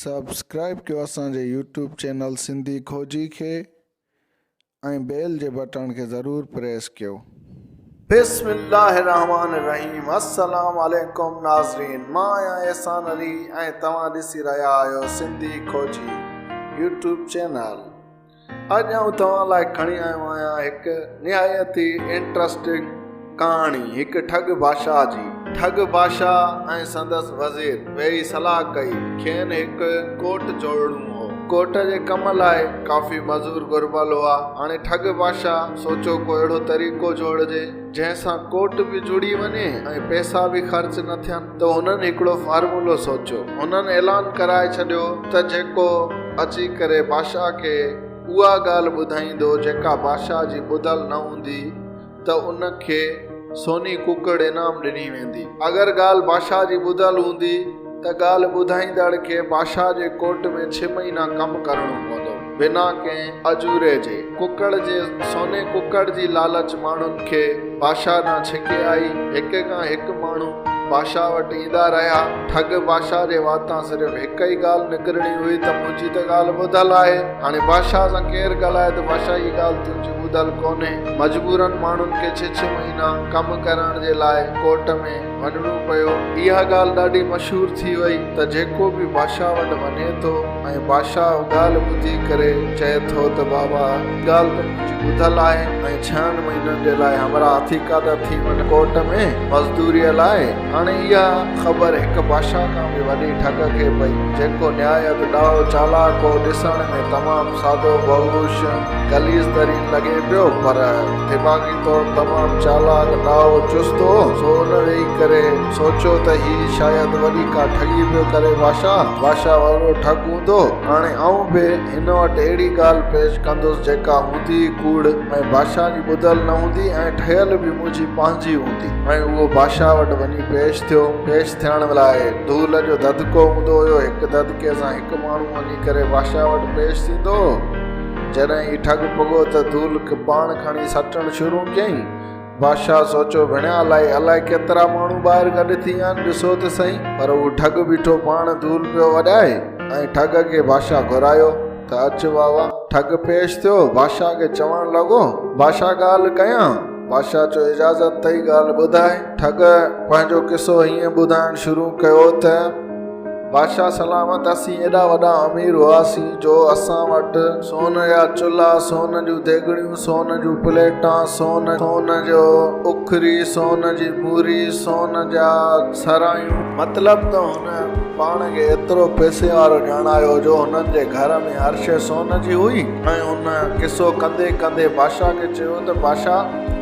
Subscribe ڪيو اسان جي يوٽيوب چينل سنڌي کوجي کي ۽ بيل جي بٽڻ کي ضرور پريس ڪيو. بسم الله الرحمٰن الرحيم السلام عليڪم ناظرين مان آهيان احسان علي ۽ توهان ڏسي رهيا آهيو سنڌي کوجي يوٽيوب چينل. اڄ آئون توهان لاء کڻي آيو آهيان هڪ نهايت ئي انٽرسٽنگ ڪهاڻي هڪ ٺڳ بادشاهه جي. ٺڳ بادشاهه ۽ سندس وزير ويهي صلاح ڪئي. کين هڪ ڪوٽ جوڙڻو هو. ڪوٽ جي ڪم لاء ڪافي مزور گهربل هئا. هاڻي ٺڳ بادشاهه سوچيو ڪو اهڙو طريقو جوڙجي جنهن سان ڪوٽ به جڙي وڃي ۽ پئسا به خرچ نه ٿين. ته هنن هڪڙو فارمولو سوچيو. هنن اعلان ڪرائي ڇڏيو ته جيڪو اچي ڪري بادشاهه کي اها ڳالهه ٻڌائيندو جيڪا بادشاهه جي ٻڌل نه هوندي ته ان کي سوني ڪڪڙ انعام ڏني ويندي. اگر ڳالهه بادشاهه جي ٻڌل هوندي ته ڳالهه ٻڌائيندڙ کي بادشاهه جي ڪورٽ ۾ ڇهه مهينا ڪم ڪرڻو پوندو. بنا ڪنهن اجوري جي ڪڪڙ جي سوني ڪڪڙ جي لالچ ماڻهن کي بادشاهه ڏانهن ڇڪي آئي. هڪ کان هڪ ماڻهو بادشاهه وٽ ايندا رهيا. ٺڳ بادشاهه جي واتان صرف هڪ ئي ڳالهه نڪرڻي هئي ته منهنجي ته ڳالهه ٻڌل آهي. هاڻي بادشاهه سان ڪير ڳالهائي ته بادشاهه هيء ڳالهه تنهنجي ٻڌل ڪونهي. مجبورن ماڻهن کي ڇهه ڇهه مهينا ڪم ڪرائڻ جي لاء ڪورٽ ۾. وڃڻو پيو. اها ڳالهه ڏاڍي مشهور ٿي وئي ته جيڪو به بادشاهه وٽ وڃي ٿو ۽ بادشاهه اها ڳالهه ٻڌي ڪري چئي ٿو ته بابا اها ڳالهه ته منهنجي ٻڌل آهي ۽ ڇهن مهينن جي لاء همراهه اٿيڪا ته ٿي وڃ ڪورٽ ۾ مزدوريء لاء. هاڻي اها خبر هڪ بادشاهه کان به وڏي ٺڳ کي پئي جيڪو نهايت ڏاهو چالاڪ هو ڏسڻ ۾ تمام. سادو بهوش، غليظ ترين لڳي پيو، پر دماغي طور تمام چالاڪ، ڏاهو، چست هو، سو ان ويهي ڪري سوچيو ته هي شايد وڏي ڪا ٺڳي پيو ڪري باشا، باشا وڏو ٺڳ هوندو، هاڻي آئون به هن وٽ اهڙي ڳالهه پيش ڪندس جيڪا هوندي ئي ڪوڙ ۽ باشا جي ٻڌل نه هوندي ۽ ٺهيل به منهنجي پنهنجي هوندي ۽ اهو باشا وٽ وڃي پيش ٿيو، پيش ٿيڻ لاء ڌول جو دڌڪو هوندو هيو، هڪ دڌڪي سان هڪ ماڻهو وڃي. تنهن ڪري بادشاهه وٽ پيش ٿيندو هو. جڏهن هي ٺڳ پڳو ته ڌول ڪرپاڻ کڻي سٽڻ شروع ڪيائين. بادشاهه سوچيو، ڀڻيا الاهي، الاهي ڪيترا ماڻهو ٻاهر گڏ ٿي ويا آهن، ڏسو ته سهي. پر هو ٺڳ بيٺو پاڻ ڌول پيو اڏائي ۽ ٺڳ کي بادشاهه گهرايو ته اچ واوا. ٺڳ پيش ٿيو، بادشاهه کي چوڻ لڳو، بادشاهه ڳالهه ڪيان؟ بادشاهه چيو، اجازت اٿئي ڳالهه ٻڌاء. ٺڳ پنهنجو قصو هيئن ٻڌائڻ شروع ڪيو ته. بادشاهه سلامت اسين ايڏا وڏا امير هئاسين جو اسان وٽ سون جا چلها، سون جون ديڳڙيون، سون جون پليٽان، سون سون جو اکري، سون جي موري، سون جا سرايون. مطلب ته هن پاڻ کي ايترو پئسي وارو ڄاڻايو جو هنن جي گهر ۾ هر شيء سون جي هئي ۽ هن قصو ڪندي ڪندي بادشاهه کي چيو ته بادشاهه!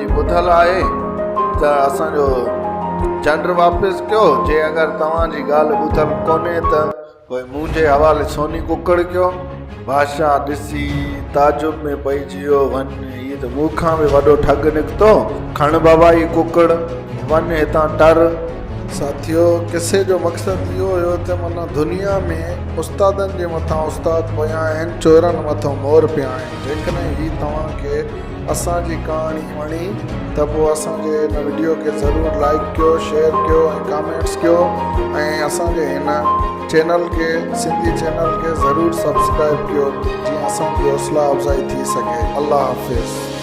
ٻڌل آهي ته اسان جو چنڊ واپس ڪيو جي اگر توهان جي ڳالهه ٻڌل ڪونهي ته پوء منهنجي حوالي سوني ڪڪڙ ڪيو. بادشاهه ڏسي تعجب ۾ پئجي ويو وڃ هي ته مون کان به وڏو ٺڳ نڪتو کڻ بابا هي ڪڪڙ وڃ هتان ٽر. ساٿيو قصي جو مقصد اهو هيو ته معنيٰ دنيا ۾ استادن جي مٿان استاد پيا آهن چورن مٿو مور پيا آهن جيڪڏهن هي توهان کي اسان جي ڪهاڻي وڻي ته پوء اسان جي هن وڊيو کي ضرور لائيڪ ڪيو شيئر ڪيو ۽ ڪامينٽس ڪيو ۽ اسان جي هن چينل کي سنڌي چينل کي ضرور سبسڪرائيب ڪيو جيئن اسان جي حوصلا افزائي ٿي سگهي الله حافظ.